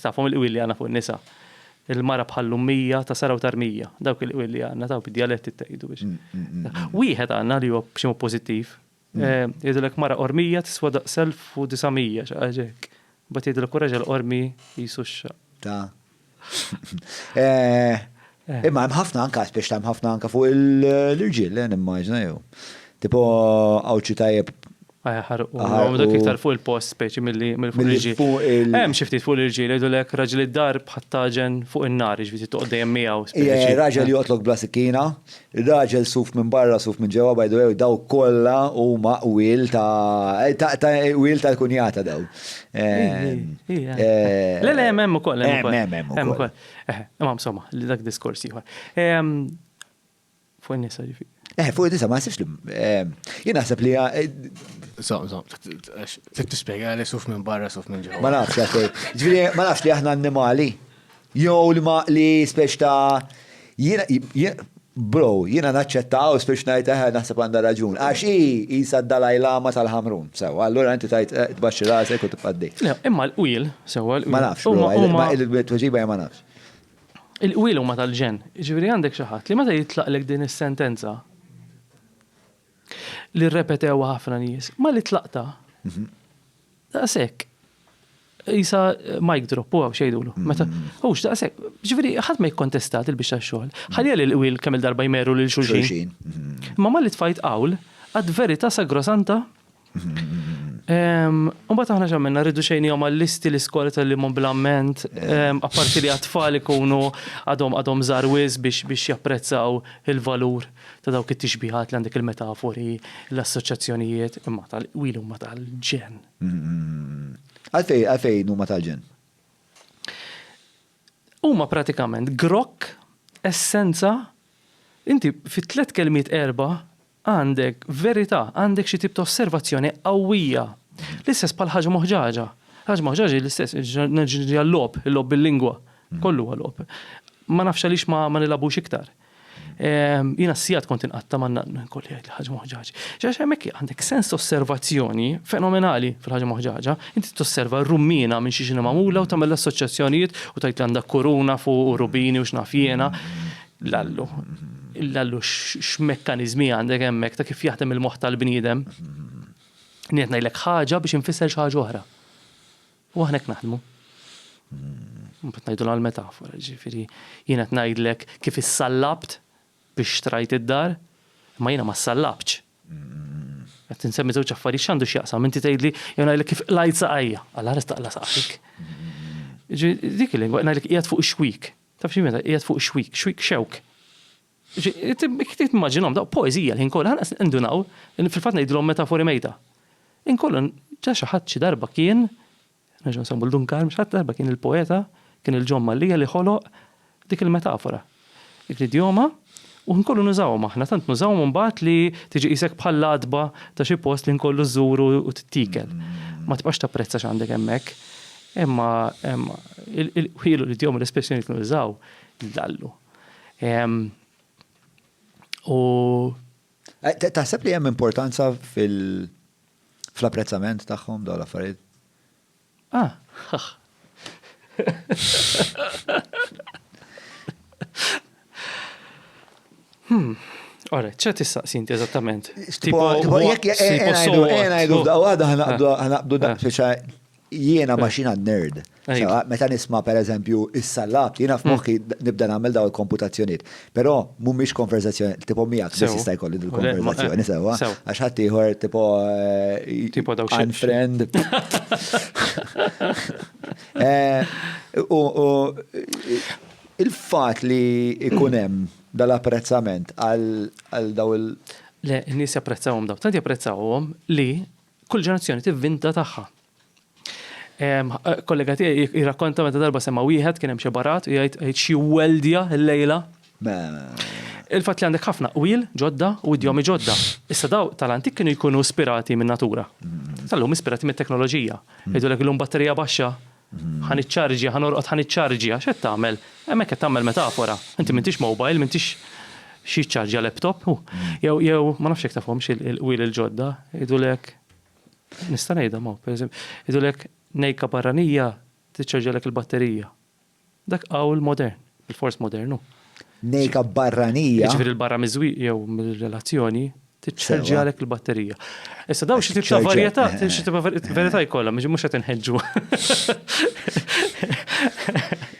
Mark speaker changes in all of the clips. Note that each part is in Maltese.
Speaker 1: Tafhom il-qwil li għandna fuq in-nisa. Il-mara bħal l-ummija ta' sara u tarmija. Dawk il-qwil li għandna, dawk id-djaletti ttejdu biex. Mm, mm, mm, Wieħed għandna li huwa b'xi mod pożittiv. Eh, jgħidulek mara qormija tiswa daq self u disamija xaqaġek. Bat jgħidulek u raġel qormi jisu x-xaq. Ta'
Speaker 2: Eh, Imma hemm ħafna anka speċi hemm ħafna anka fuq l-irġiel, eh, nimmaġna jew. Tipo għawċi tajjeb. Ħarqu. Għom
Speaker 1: dak iktar fuq il-post speċi mill-li mill-fuq l-irġiel. Hemm xi ftit fuq l-irġiel jgħidu lek raġel id-dar bħat-taġen fuq in-nar, ġifieri toqgħod dejjem miegħu speċi. Raġel joqtlok bla
Speaker 2: sikkina, raġel suf minn barra suf minn ġewwa by the way daw kollha huma qwiel ta' ta' qwiel tal-kunjata daw.
Speaker 1: Le le hemm hemm ukoll. Hemm hemm hemm ukoll. Eh, imma insomma, li dak diskors ieħor. Ehm, fuq in-nisa ġifi. Eh, fuq in-nisa ma jsibx li.
Speaker 2: Ehm, jien naħseb li. So, so, trid
Speaker 3: tispjega li suf minn barra suf minn ġewwa. Ma nafx għaxej.
Speaker 2: Ġifieri ma nafx li aħna annimali. Jew li ma li speċ ta' jiena Bro, jiena naċċetta Għaws biex ngħid eħe naħseb għandha raġun. Għax hi qisha d-Dalai Lama tal-Ħamrun. Sewwa, allura inti tgħid tbaxxi rasek u tibqa' għaddej. Le, imma l-qwiel,
Speaker 1: sewwa l-qwiel. Ma nafx, imma
Speaker 2: il-tweġiba hija ma nafx. Il-qwiel
Speaker 1: huma tal-ġenn. Jiġifieri għandek xi ħadd li meta jitlaqlek din is-sentenza, Li rrepetewha ħafna nies. Ma li tlaqta. Mhm. Daqshekk. Isa mic drop u għaw xejdulu. Mhm. Meta, hux daqshekk. Ġifieri ħadd ma jikkontestat il-biex tax-xogħol. Mhm. Ħalija li l-qwiel kemm il-darba jmeru lil xulxin. Ma ma li tfajt qawl għad verità sagrosanta Mbagħad aħna x'għamilna rridu xejnihom għall-listi l-iskoli tal-limhom bl-amment, apparti li għat-tfal ikunu għadhom għadhom żgħar wisq biex biex japprezzaw il-valur ta' dawk it-tixbihat li għandek il-metafori, l-assoċjazzjonijiet, imma tal-qwili huma tal-ġenn. Għalfejn
Speaker 2: għalfejn huma tal-ġenn?
Speaker 1: Huma pratikament grokk, essenza, inti fit-tliet kelmiet erba' Għandek verità, għandek xi tip ta' osservazzjoni qawwija. L-istess bħal ħaġa moħġaġa. Ħaġa moħġaġa hi l-istess, nerġa' niġi għal-logħob, il-logħob bil-lingwa. Kollu huwa logħob. Ma nafx għaliex ma nilagħbux iktar. Jiena sigħat kont inqatta' ma nkolli jgħid li ħaġa moħġaġa. Għax hemmhekk għandek sens ta' osservazzjoni fenomenali fil-ħaġa moħġaġa. Inti tosserva r-rummiena minn xiex inhi magħmula u tagħmel l-assoċjazzjonijiet u tgħid li għandha kuruna fuq u rubini u x'naf jiena. l-allu. L-allu x'mekkaniżmi għandek hemmhekk ta' kif jaħdem il-moħħ tal-bniedem. Qed ngħidlek ħaġa biex infisser xi ħaġa oħra. U aħna hekk naħdmu. Mbagħad ngħidu għal metafora, ġifieri jiena qed ngħidlek kif issallabt biex trajt id-dar, ma jiena ma ssallabtx. Qed insemmi żewġ affarijiet x'għandu x'jaqsam, inti tgħidli jew ngħidlek kif qlajt saqajja, għal ħares taqla saqajk. Dik il-lingwa ngħidlek qiegħed fuq ix-xwik, Taf xi meta qiegħed fuq xwik, xwik xewk. Timmaġinhom daqq poeżija l-ħin kollu, ħanqas indunaw, fil-fatt ngħidilhom metafori mejta. Inkollu ġa xi ħadd xi darba kien, nerġgħu nsemmu l-Dun Karm, xi ħadd darba kien il-poeta, kien il-John Mallia li ħoloq dik il-metafora. Dik l-idjoma. U nkomplu nużawhom aħna, tant nużawhom imbagħad li tiġi qisek bħal l-għatba ta' xi post li nkollu żżuru u tittiekel. Ma tibqax tapprezza x'għandek hemmhekk. Imma il-qwiel u l-idjomi u l-espressjonijiet li nużaw jdallu. U.
Speaker 2: Taħseb li hemm importanza fl-apprezzament tagħhom dawn l-affarijiet? Ah.
Speaker 1: Hmm. Ora, ċa tistaqsi inti eżattament? Tipo, jek jenajdu da għada
Speaker 2: ħanaqdu da xiexa jiena maċina nerd. Meta nisma per eżempju is-salat, jiena f'moħħi nibda nagħmel daw il-komputazzjoniet. Però mhumiex konverzazzjoni tipo miegħek biss jista' jkolli din konverzazzjoni sewwa. Għax ħadd ieħor tipo eh, tipo dawk unfriend. Eh, u il-fatt li ikun hemm dal-apprezzament għal daw il- Le, n-nies
Speaker 1: japprezzawhom daw. Tant japprezzawhom li kull ġenerazzjoni tivvinta tagħha. Kollega tiegħi jirrakkonta meta darba sema' wieħed kien hemm xi barat u jgħid qed xi weldja llejla. Il-fatt li għandek ħafna qwiel ġodda u idjomi ġodda. Issa daw tal-antik kienu jkunu ispirati min-natura. Tal-lum ispirati mit-teknoloġija. Jgħidulek illum batterija baxxa, ħa niċċarġja, ħa norqod ħa niċċarġja. X'qed tagħmel? Hemmhekk qed tagħmel metafora. Inti m'intix mobile, m'intix xi jiċċarġja laptop. Jew ma nafx jekk tafhomx il-qwiel il-ġodda, jgħidulek. Nista' ngħidha ma, pereżempju, jgħidulek nejka barranija tiċċarġalek il-batterija. Dak qawl modern, il-fors modernu. Nejka
Speaker 2: barranija. Jiġifieri l-barra miżwieq
Speaker 1: jew mill-relazzjoni tiċċarġalek il-batterija. Issa dawn xi tibqa' varjetà, xi tibqa' varjetà jkollha, mhux qed inħeġġu.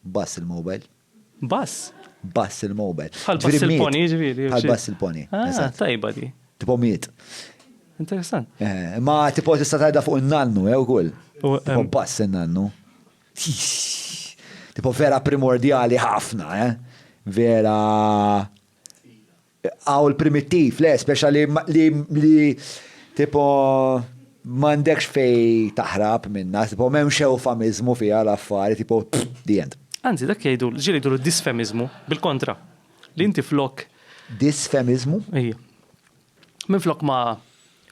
Speaker 2: Bass il-mobile. Bass?
Speaker 1: Bass
Speaker 2: il-mobile. Bħal bass il-poni,
Speaker 1: ġviri. Bħal bass il-poni.
Speaker 2: Ah, tajba di.
Speaker 1: Tipo miet.
Speaker 2: Interessant.
Speaker 1: Eh, ma
Speaker 2: tipo tista tajda fuq il-nannu, jew eh, kull. Tipo bass il-nannu. Tipo vera primordjali ħafna, eh? Vera. Qawl primittiv, le, speċa li li li tipo m'għandekx fejn taħrab minnha, tipo m'hemmx ewfamiżmu fiha l-affari, tipo the end. Anzi, dak jgħidu, l-ġieli
Speaker 1: jgħidulu disfemiżmu, bil-kontra, li inti flok. Disfemiżmu?
Speaker 2: Ejja.
Speaker 1: Minflok ma,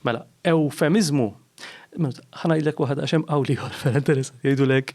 Speaker 1: mela, ewfemiżmu, minuta, ħa ngħidlek waħda għax hemm qawl ieħor vera interessanti, jgħidulek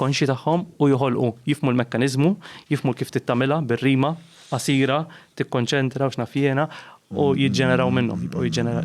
Speaker 1: konxji tagħhom u joħolqu, jifhmu l-mekkaniżmu, jifhmu l-kif trid tagħmilha bir-rima, qasira, tikkonċentra u x'naf jiena, u jiġġeneraw minnhom, jibqgħu
Speaker 2: jiġġeneraw.